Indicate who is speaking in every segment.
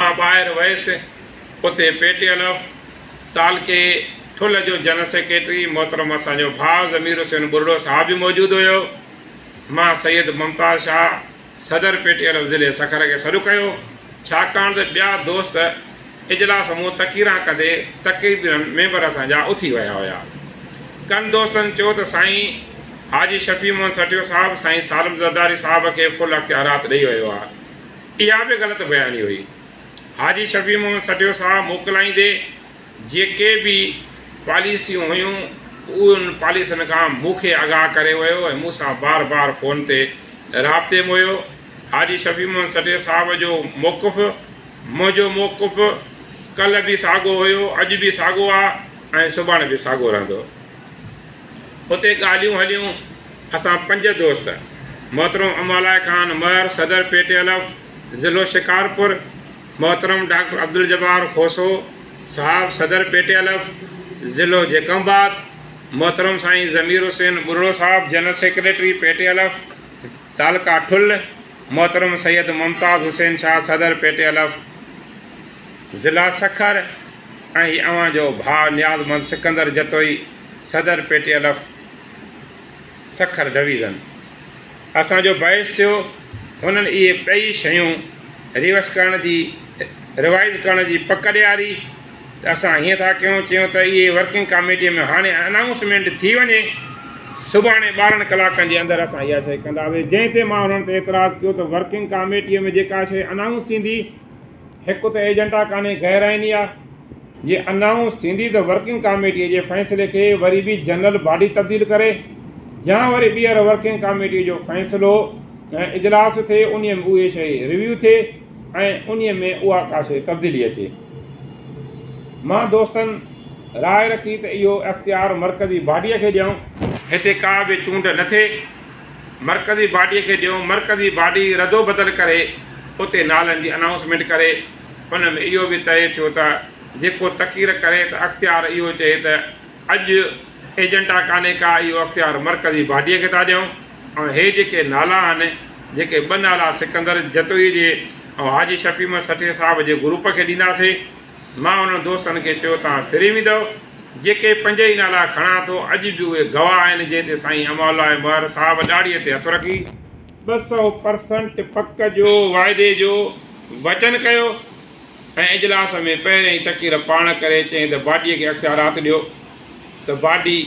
Speaker 1: مان ٻاهر ويس، اتي پي ٽي ايل ايف تعلقي ٺل جو جنرل سيڪريٽري محترم اسان جو ڀاء ضمير حسين ٻرڙو صاحب به موجود هيو. مان سيد ممتاز شاهه صدر پي ٽي ايل ايف ضلعي سکر کي سڏ ڪيو، ڇاڪاڻ ته ٻيا دوست اجلاس مون تقريران ڪندي تقريبن ميمبر اسان جا اٿي ويا هيا. ڪن دوستن چيو ته سائين حاجي شفيع محمد سٺيو صاحب سائين سالم زرداري صاحب کي فل اختيارات ڏئي ويو آهي. اها به غلط بياني هئي. حاجي شفيع محمد سٺيو صاحب موڪلائيندي جيڪي به پاليسيون هيون انهن پاليسين کان مون کي آگاهه ڪري ويو ۽ مون سان بار بار فون تي رابطي م هيو. حاجي شفيع محمد سٺيو صاحب جو موقف منهنجو موقف ڪلهه به ساڳو هيو، اڄ به ساڳو آ ۽ سڀاڻي به ساڳو رهندو. اتي ڳالهيون هليون. اسان پنج دوست، محترم امالاء خان مهر صدر پي ٽي ايل ايف ضلعو شڪارپور، محترم ڊاڪٽر عبدالجبار کوسو صاحب صدر پي ٽي ايل ايف ضلعو جيڪب آباد، محترم سائين ضمير حسين ٻرڙو صاحب general secretary P T L F تعلقه ٺل، محترم سيد ممتاز حسين شاهه صدر پي ٽي ايل ايف ضلعه سکر، ۽ اوهان جو ڀاء نيازمند سڪندر جتوئي صدر پي ٽي الف سکر ڊويزن اسان جو باعث ٿيو هنن اهي ٻئي شيون ريوس ڪرڻ جي ريوائز ڪرڻ جي پڪ ڏياري ته اسان هيئن ٿا ڪيون چيون ته اهي ورڪنگ ڪاميٽي ۾ هاڻي انائونسمينٽ ٿي وڃي سڀاڻي ٻارهن ڪلاڪن جي اندر اسان اها شيء ڪنداسي جنهن تي مان هنن تي اعتراض ڪيو ته ورڪنگ ڪاميٽي ۾ جيڪا شيء انائونس ٿيندي هڪ ته ايجنڊا ڪانهي غير آئيني آ، جي انائونس ٿيندي ته ورڪنگ ڪاميٽي جي فيصلي کي وري به جنرل باڊي تبديل ڪري يا وري ٻيهر ورڪنگ ڪاميٽي جو فيصلو ۽ اجلاس ٿئي انهي ۾ اهي شيء ريويو ٿئي ۽ انهي ۾ اها ڪا شيء تبديلي اچي. مان دوستن راء رکي ته اهو اختيار مرڪزي باڊيء کي ڏيئون. هتي ڪا به چونڊ نه ٿئي. مرڪزي باڊي کي ڏيو، مرڪزي باڊي ردوبدل ڪري اتي نالن جي انائونسمينٽ ڪري، ان ۾ اهو به طئي ٿيو ته جيڪو تقرير ڪري ته اختيار اهو چئي ته اڄ ايجنڊا ڪانهي ڪا اهو اختيار مرڪزي باڊي کي ٿا ڏيون ۽ هي جيڪي نالا آهن جيڪي ٻه نالا سڪندر جتوئي جي ۽ حاجي شفيع احمد سٺي صاحب جي گروپ کي ڏينداسين. مان انهن دوستن کي چيو توهان ڦري ويندؤ، جيڪي پنج ئي نالا کڻان ٿو اڄ به اهي گواهه آهن جنهن تي سائين امان الله ۽ مهر صاحب ڏاڙهي تي هٿ رکي، ٻه سؤ پرسنٽ پڪ جو واعدي جو وچن ڪيو ۽ اجلاس ۾ پهريائين تقرير پاڻ ڪري چيائين ته باڊي کي اختيارات ڏيو ته باڊي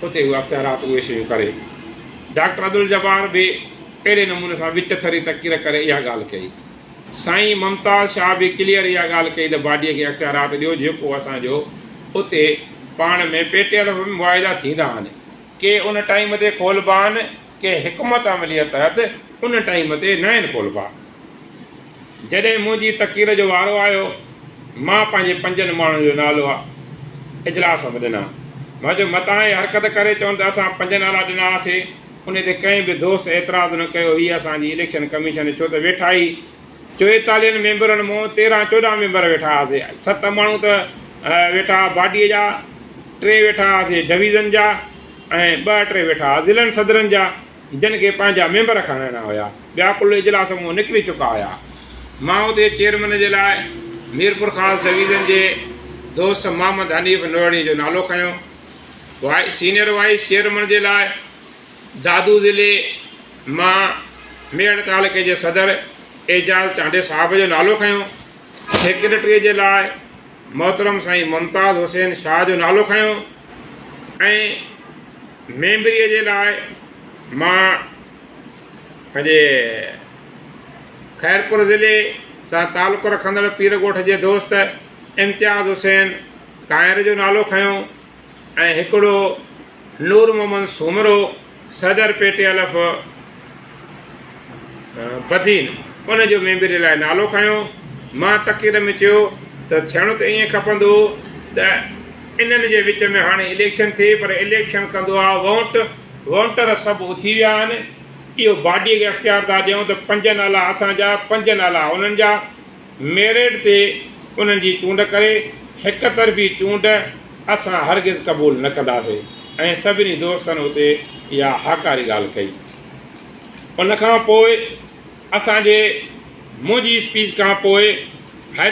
Speaker 1: اتي اهي اختيارات اهي شيون ڪري، ڊاڪٽر عبدالجبار به اهڙي نموني سان وچ ٿري تقرير ڪري اها ڳالهه ڪئي. سائين ممتاز شاهه به ڪليئر اها ڳالهه ڪئي ته باڊي کي اختيارات ڏيو جيڪو اسان جو اتي پاڻ ۾ پيٽيل معاهدا ٿيندا آهن ڪي ان ٽائيم تي کولبا آهن ڪي حڪمت عمليء تحت ان ٽائيم تي ناهن کولبا. جڏهن منهنجي تقرير جو وارو آيو مان پنهنجي پنجن ماڻهن جو نالو اجلاس ۾ ڏنا مان چيو متان اهي حرڪت ڪري چون ته اسان پنج نالا ڏنا هئاسي. انهي تي ڪنهن به دوست اعتراض نه ڪيو هي اسان جي اليڪشن ڪميشن ڇو ته ويٺا ئي چويتاليهن ميمبرن مون تيرهن چوڏهن ميمبر ويٺا هئاسي ست ماڻهو ته ويٺا هئا باڊي جا ٽي ويٺا هئاسي ڊويزن جا ۽ ٻه ٽي ويٺا هئا ضلعن صدرن جا جن کي پنهنجا ميمبر کڻائڻا هيا ٻيا ڪل اجلاس مون نڪري چڪا هيا مان اتي چيئرمن جي لاء ميرپورخاص ڊويزن جي دوست محمد حنيف نوئڙي جو نالو کنيو سينيئر وائيس چيئرمن جي لاء دادو ضلعي مان ميڙ تعلقي جي صدر اعجاز چانڊيو صاحب جو نالو کنيو، سيڪريٽري جي لاء محترم سائين ممتاز حسين شاهه جو نالو کنيو ۽ ميمبري جي لاء مان پنهنجي خيرپور ضلعي سان تعلق رکندڙ پير ڳوٺ جي دوست امتياز حسين طاهر جو نالو کنيو ۽ هڪڙو نور محمد سومرو صدر پي ٽي الف بدين ان جو ميمبري لاء نالو کنيو. مان تقرير ۾ چيو ته ٿيڻو ته ائين کپندو هو ته انهن جي وچ ۾ هاڻي اليڪشن ٿئي پر اليڪشن ڪندو آ وونٽ وونٽر سڀ اٿي ويا آهن اهو باڊي کي اختيار ٿا ڏيون ته پنج نالا اسان جا پنج نالا انهن جا ميرٽ تي انهن جي چونڊ ڪري هڪ طرفي چونڊ اسان هرگز قبول نه ڪنداسين ۽ سڀني دوستن اتي اها هاڪاري ڳالهه ڪئي. ان کان پوء اسان جي منهنجي اسپيچ کان پوء حيدرآباد